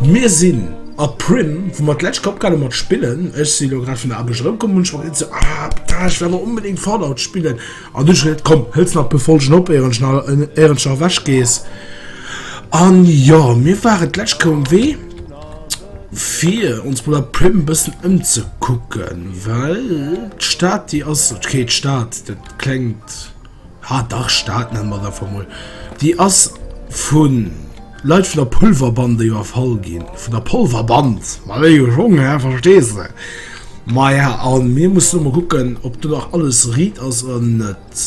Mir sinn a Primm, wou mer d'lescht Kéier opgehal hu mat spillen. Ech si elo grad vun der Aarbecht erëmkomm, hunn ech mer geduecht esou, ah, putain, ech wëll awer onbedéngt Fallout spillen. An du hues ech geduecht, komm, hëls nach e puer Folgen op, éier ech, éier ech nach ewech gees. An jo, mir waren d'lescht Kéier um Wee, fir ons mol a Primm e bëssen ëmzekucken, well d'Stad, déi ass, okay, d'Stad, dat klengt, Ah dach, Stad nennen mer et einfach mol. Déi ass vu Leit vun der Pulverbande iwwerfall ginn. Vun der Polverband! Ma wéi gejong, hä? Verstees de? Maja, a mir mussen elo mol kucken, ob do nach alles riit ass oder net.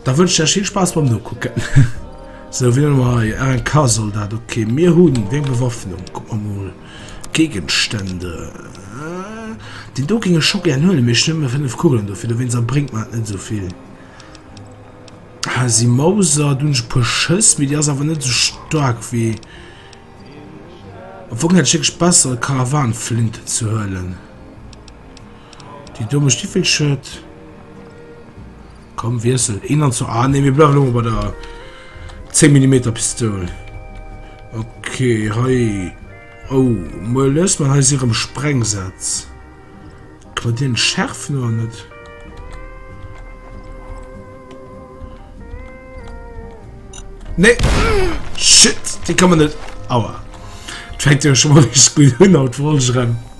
Da wënsch ech lech vill Spaass beim Nokucken. Sou, wien hunn mer hei? Ah, en Kasoldat, okay. Mir hunn, wéi eng Bewaffnung? Kuck mer mol. Géigestände, déi do géing ech scho gären huelen, mee ech hunn nëmme fënnef Kugelen dofir, dowéinst a bréngt mer et net esou vill. Hasi Mauser, do hunn ech e puer Schëss, mee déi ass awer net esou staark wéi. Am Fong hätt ech wierklech besser Karawanflinten ze huelen. Déi do mécht wéi vill Schued? Komm wiessel een an zwar, ah nee mir bleiwen elo mol bei der 10 Millimeter Pistoul. Ok hei, oh muer lues mer hei si erëm Sprengsätz. Ka mer deen schärfen oder net? Nee shit, dee ka mer net, aua. Fänkt jo scho mol richteg gutt un haut, wollt ech erëm.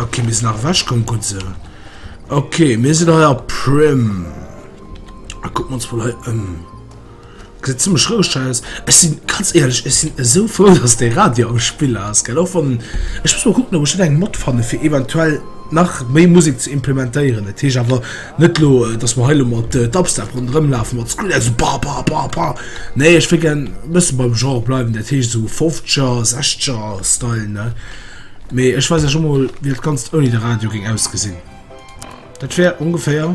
Okay, mir sind nach weg, komm gut so. Okay, mir sind heuer Prim. Ah, gucken wir uns wohl heute um. Sieht ziemlich ruhig aus. Ich sind ganz ehrlich, ich sind so froh, dass der Radio am Spiel ist. Gell? Auch von, ich muss mal gucken, ob ich da einen Mod fand, für eventuell nach mehr Musik zu implementieren. Das ist aber. Net elo dass mer hei elo mat Dubstep ronderëm lafe mat Skrilla sou ba ba ba ba, nee ech wëll gären e bësse beim Genre bleiwen, dat heescht esou Fofzeger, Sechzeger Style ne, mee ech weis iech emol wéi dat Ganzt ouni de Radio géing ausgesinn. Dat wär ongeféier.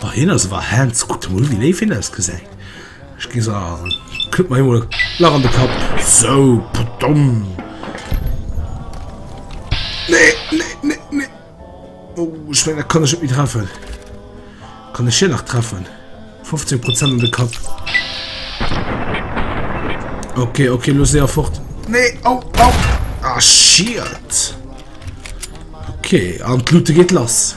Boah, hien ass awer Hands. Kuckt mol, wéi léif hien ausgesäit. Ech gi se an. Kënnt mer him mol lach an de Kapp. So, pardon. Nee, nee, nee, nee. Oh, ich mein, da kann ech net méi treffen. Kann ech hien nach treffen? 15 Prozent an de Kapp. Okay, okay, los se fort. Nee, au, au. Ah, shit. Okay, an d'Lute geht lass.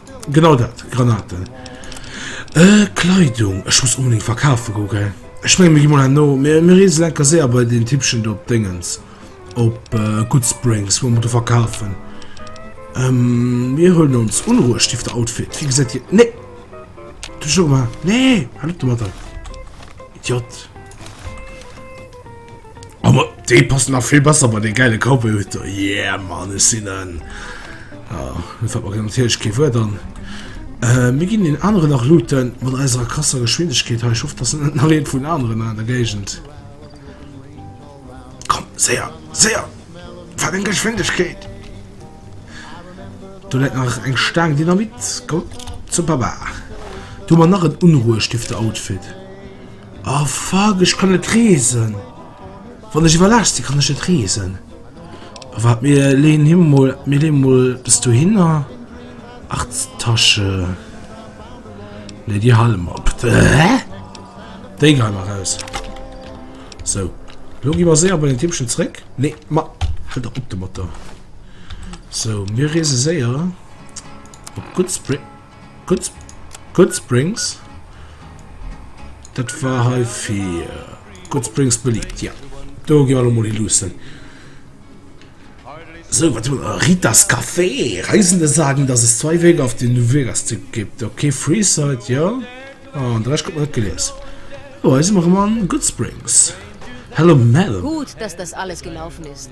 Genau dat, Granaten. Äh, Kleidung. Ech muss unbedingt verkafe go, gell? Ech menge mir gi mol herno. Mir, mir reesen enker séier bei den Typchen do op Déngens. Op äh, Goodsprings, wou mer do verkafen. Ähm, mir huelen ons Unruhestifter Outfit. Wie gesäit dir? Nee! Du schon mal. Nee! Halt du mal da. Idiot. Aber dee passt nach vill besser bei de geile Cowboy huet der. Yeah man ech sinn en garantiiertg kee Wuer dann. Äh, mir ginn den anere nach looten mat eiser krasser Geschwindegkeet hei. Ich hoffe, dass net nach eent vun aneren an der Géigend. Komm, séier, séier! Wat eng Geschwindegkeet! Du läit nach eng Staang Dynamit. Komm, zum Papa. Du mer nach en unruhestiftde Outfit. Oh fuck, ech kann net reesen. Wann ech iwwerlaascht sinn, kann ech net reesen. Wart, mir leeën him mol, mir leeën mol bis dohinner. Ach, d'Tasche. Ne, déi hale mer op. Hä? Déi gehe mer raus. So. Lo gi mer séier bei den Tippchen zréck. Ne, ma, halt op de Motor. So, mir reese séier op Goodsprings. Good, Good Springs. Dat war hei fir Good Springs beliebt, ja. Do gi alle mol hi lussen. So, wat hun äh, Ritas Café. Reisende sagen, dass es zwei Wege auf den New Vegas Tipp gibt. Okay, Freeside, ja. Ah, an dresch kommt net gelees. Oh, hei si mer ëmmer an Good Springs. Hello, Mel. Gut, dass das alles gelaufen ist.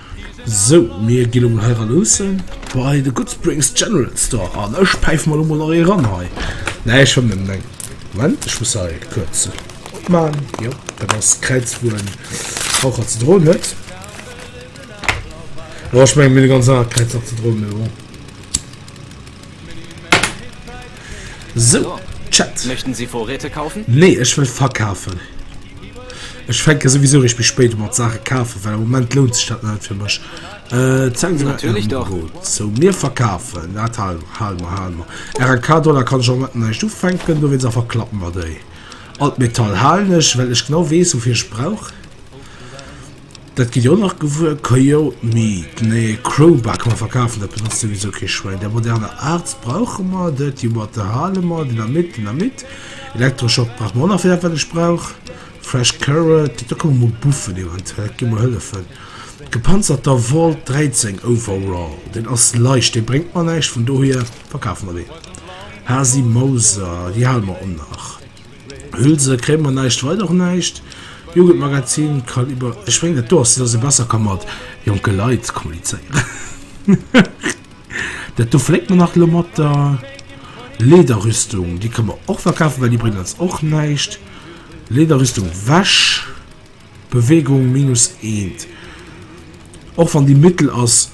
Sou, mir ginn emol heiran luussen bei de Goodsprings General Store an ech päife mer elo mol nach ee ran hei. Nee, ech fëmmen net. Moment, ech muss hei kuerz opman. Jo, dat ass d'Kräiz, wou en Raucher ze droen huet. Jo, ech mengen mir hunn e ganz anert Kräiz nach ze droen, mee bon. So, Chat. Möchten Sie Vorräte kaufen? Nee, ech wëll verkafen. Ech fänke souwisou eréischt méi spéit u mat Saache kafen, well am Moment lount sech dat nach net fir mech. Äh, zeigen Sie mir Ären Ueberot. So, mir verkafen dat hei. Hal mer, hal mer. RNK, Dollar kann ech am Moment nach näischt ufänken, dowéinst awer klappen mer déi. Alt Metall halen ech, well ech genau weess, woufir ech brauch. Dat gitt dir och nach gewuer. Kajou, mee nee, Crowbar ka mer verkafen, dat benotzt souwisou kee Schwäin. Där moderner Arts brauche mer, Dirty Water hale mer, Dynamit, Dynamit, Elektroschock brauche mer och nach fir dat wat ech brauch, Fresh Carrot, do komme mol Buffen eventuell, dat géif mer hëllefen, gepanzerter Volt 13 Overall, deen ass leicht, dee bréngt mer näischt, vun dohier verkafe mer deen. Hasi Mauser, déi hale mer och nach. Hülse kréie mer näischt, weider och näischt. Jugendmagazin kann iwwer, ech mengen et do ass, dass e besser ka mat jonke Leit kommunizéieren. Dat do fléckt mer nach elo mat der Lederrüstung, déi ka mer och verkafen, well déi bréngt eis och näischt. Lederrüstung, Wäsch. Bewegung minus eent. Och wann déi mittel ass,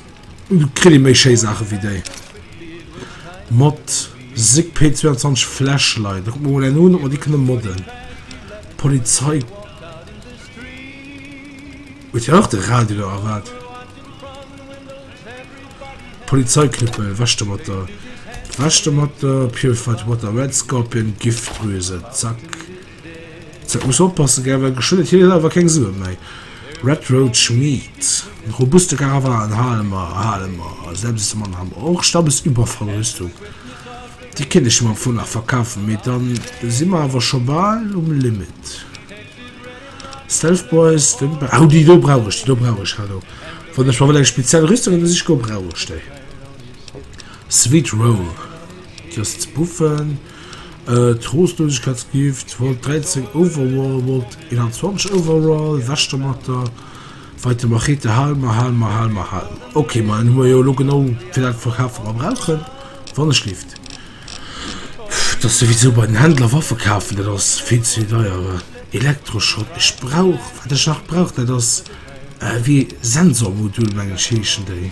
kritt ee méi schéi Saache wéi déi. Mod Sig P22 Flashlight. Da kucke mer mol eng un, ob mer déi kënne modden. Polizei. Huet hien och de Radio do a wat? Polizeiknüppel. Wech do mat der. Wech do mat der. Purified Water Red Scorpion Giftdrüse. Zack. Dat muss oppassen, gell, well geschwënn huet hie selwer keng Sue méi. Red Road Schmied, En robuste Karawan hale mer, hale mer, selbst de Mann han mer och, Stammes Überfallrüstung, déi kinne ech mer vu nach verkafen, mee dann si mer awer scho bal um Limit. Stealth Boys, Den Ba, oh, déi do brauch ech, déi do brauch ech, hallo, wann ech mer wëll eng speziell Rüstung ebe siche goen, brauch ech déi. Sweet Roll, Déi ass ze buffen. Troostlosegkeitsgift, Volt 13 overall, Volt 21 overall, weg domatter, weiter Machete, Halma, Halma, Halma, Halma. Okay, man hu mer jo lo genau fir dat verkaf wat mer brauchen, wann ech lift. Das sowieso bei den Händler Waffe kafen, dat ass vill ze deier. Elektroschrott, ech brauch wat ech nach brauch, dat ass wéi Sensormodul meng ech heeschen déi.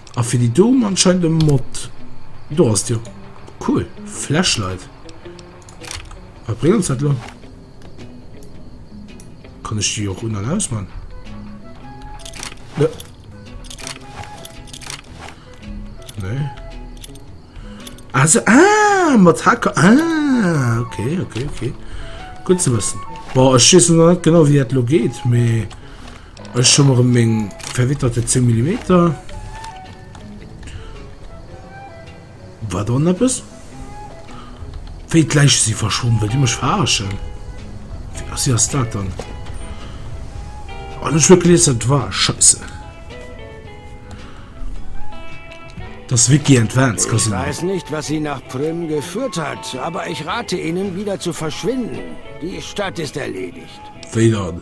A fir déi do anscheinend e Mod. Do ass jo cool. Flashlight. Wat bréngt ons dat lo? Kann ech déi och un an aus man? Ne. Nee. Also, ah, mat Hacker. Ah, okay, okay, okay. Gut ze wëssen. Boah, ech schiessen net genau wie dat lo geht, mee... Ech hu mer meng verwitterte 10 Millimeter. War da eppes? Wéi d'Läich si verschwonn, wëllt Dir mech verarschen? Was ass dat dann? An ech huet gelies, dat war Scheiße. Das Wiki Advanced Casino. Ich weiß nicht, was sie nach Prüm geführt hat, aber ich rate Ihnen, wieder zu verschwinden. Die Stadt ist erledigt. Wéi dann?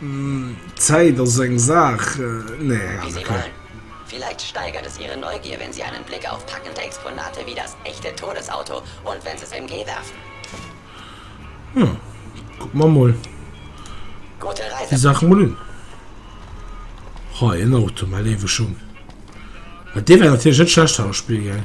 D'Zäit ass eng Saach. Wie sie wollen. Vielleicht steigert es ihre Neugier, wenn sie einen Blick auf packende Exponate wie das echte Todesauto und Wenzel's MG werfen. Jo, kucken mer mol déi Saach mol un. Hei en Auto, mä lewe Schung. Mä dee wär natierlech net schlecht hei am Spill, gell?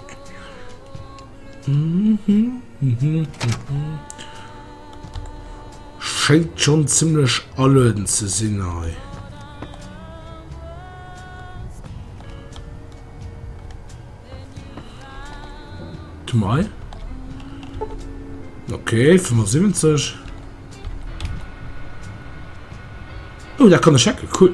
Schéngt schon ziemlech allueden ze sinn hei. Du mei. Okay, 75. Oh, da kann ech checken, cool.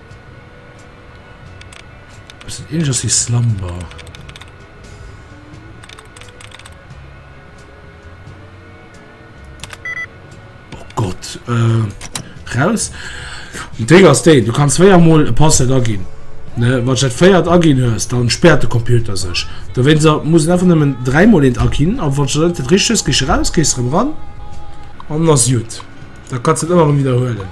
Ass dat ähnleches wie Slumber? Oh Gott, äh, raus. Den Trick ass den, du kannst zweier Mal ein Passwort agin. Ne, wann du dat feiert agin hues, dann sperrt de Computer sech. Dowéinst muss et einfach nëmmen dräi Mal eent agin, a wann du dat richteg hues, gees du raus, gees erëm ran, an dann ass gutt. Da kannst du dat ëmmer erëm widderhuelen.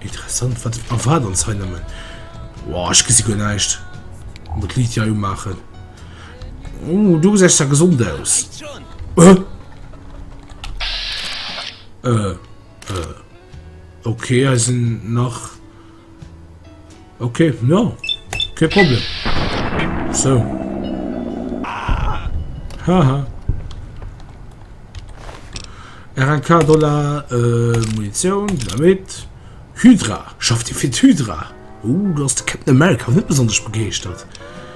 Interessant, wat erwaart ons hei nëmmen? Wow, ech gesi guer näischt. Muss d'Liit ja umaachen. Oh, du gesechs ja gesond aus. Äh? Äh, äh. Okay, hei sinn nach... Ok ja ke Problem so Haha RNK Dollar äh, Munition Dynamit Hydra schafft Dir fir d'Hydra? Uh, du ass de Captain America net besonnesch begeeschtert.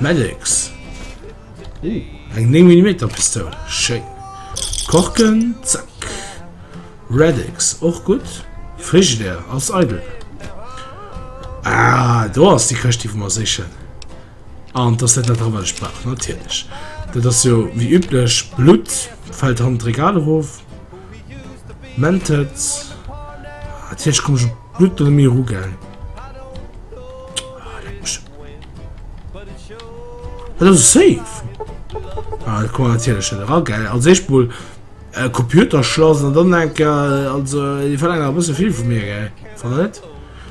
Medics. Uh, eng 9 mm Pistoul. Schéin. Korken, zack. Redix, och gut. Frigidaire ass eidel. Ah, do ass die Këscht, déi mer sichen. An dass dat net dran, wat ech brauch, natierlech. Dat ass jo wie üblech Blut, fällt han d'Regal erof. Mentet. Natierlech komm ich Blut oder mir rugeln. Dat ass safe. Ah, kann man natierlech net era, gell. Als éischt mol äh, Computerschlass an dann enker, äh, also déi verlaangen a bësse vill vu mir, gell. Wann net?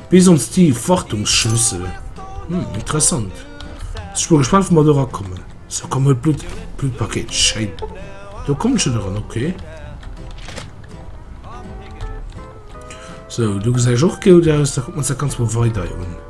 Bis ons déi Wartungsschlüssel. Hm, interessant. Ech bin gespannt, wo wir do rakommen. So, komm, hol Blut, Blutpaket. Schein. Da kommt schon dran, okay. So, du gesehst auch gut aus. Da gucken wir uns das ganz mal weiter an.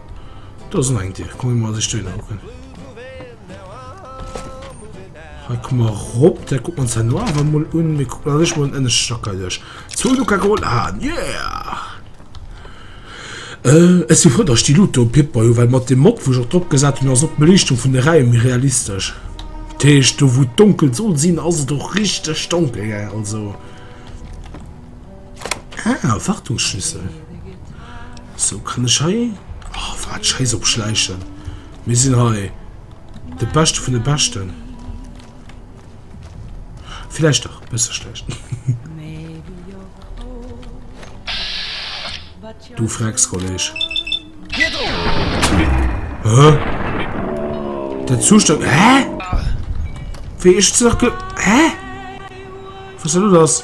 Da sinn eng Dir komm mat sech deen hocken. Hei komm mal rop der guck man no awer mol un mir guck sech mal en Stacker duerch zu du ka geholt ha yeah! Äh ech si frou datt ech déi Luut do Pipper hu well mat dem Mod wou ech och drop gesat hunn ass och d'Beliichtung vun de Räim méi realistesch. Dat heescht do wou donkel soll sinn ass et och richteg donkel gell also. Ah, Wartungsschlüssel. Sou kann ech hei... Oh, wat scheiss op Schleichen. Mir sinn hei de Beschte vun de Beschten. Vielleicht doch, besser schlecht. du fragst, Kollege. Hä? Der Zustand... Hä? Wie ich zurück... Hä? Was soll das?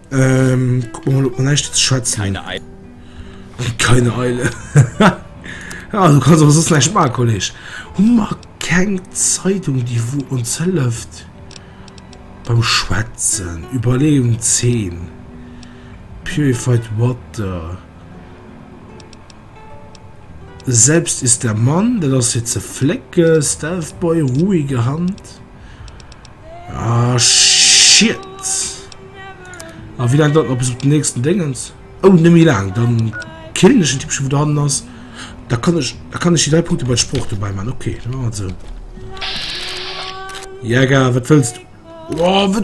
Ähm, guck mal, ob man echt jetzt schätzt. Keine Eile. Keine Eile. ja, du kannst aber sonst nicht machen, Kollege. Und mal keine Zeitung, die wo uns hilft. Beim Schwätzen. Überlegung 10. Purified Water. Selbst ist der Mann, der das jetzt flecke, Stealth Boy, ruhige Hand. Ah, shit. Ah, wie lang dat noch bis op den nächsten Dingens? Oh, nicht mehr lang. Dann killen ich den Typ schon, wo da hinten ist. Da kann ich, da kann ich die drei Punkte bei Spruch dabei machen. Okay, dann machen wir so. Jäger, was willst du? Oh, was...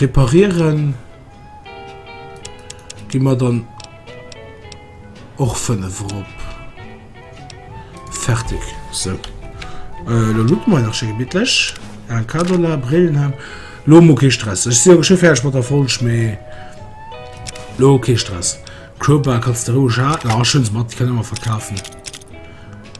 Reparieren gi mer dann och 5 erop. Fertig. So. Äh, lo lucken mer nach schön gemütlich. Ein Kado la, Brillen haben. Lo mo kein Stress. Ich sehe schon fertig mit der Folge, mehr. Lo kein Stress. Crowbar kannst du ruhig haben. Ah, schön, Matt, die können wir verkaufen.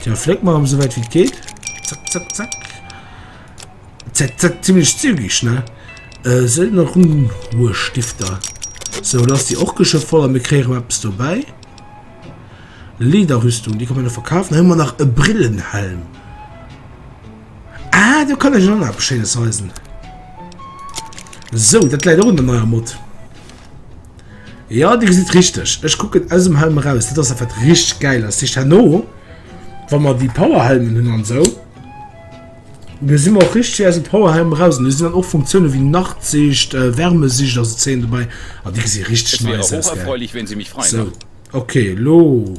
Tiens, fléck mer em, sou wäit wéi et geet. Zack, zack, zack. Zack, zack, ziemlech zügig, ne? Äh, sou nach Runruhestifter. So, lass die och geschö voll an mir kréieren mer eppes dobäi. Lederrüstung, die kann man noch verkaufen. Da hun mer nach e Brillenhelm. Ah, do kann ech och nach eppes Schéines weisen. So, dat läit och un der neier Mod. Ja Dir gesitt richteg, ech kucken aus dem Helm eraus, dat ass dat wat richteg gäil ass. Sicht herno wa mer déi Powerhelmen hunn an esou, do si mer och richteg wéi aus dem Powerhelm eraus. An do sinn dann och Funktioune wéi Nachtsicht, äh, Wärmesicht a sou Zeen dobäi a déi gesi richteg nice aus, gell? So, okay, lo.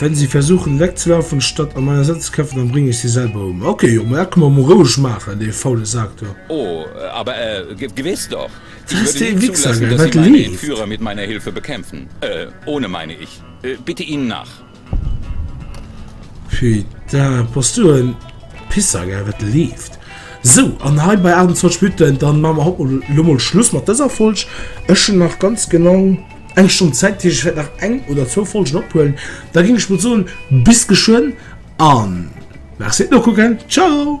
Wenn sie versuchen wegzulaufen, statt an meiner Sitz kämpfen, dann bringe ich sie selber um. Okay, jo, mä kann man mal roueg maachen, dee faule Sak do. Oh, aber äh, ge gewiss doch. Ich würde nicht Wichser, zulassen, dass Sie meinen Führer mit meiner Hilfe bekämpfen. Äh, ohne meine ich. Äh, bitte ihn nach. Putain, bass du en Pisser, gell, wat leeft? Sou, an hei bei 28 Minuten, dann machen wir hopp lo mol Schluss mat dëser Folg. Ech hunn nach ganz genau eng Stonn Zäit, dat heescht, ech wäert nach eng oder zwou Folgen ophuelen. Da géing ech mol soen, bis geschwënn an merci fir d'Nokucken. Ciao!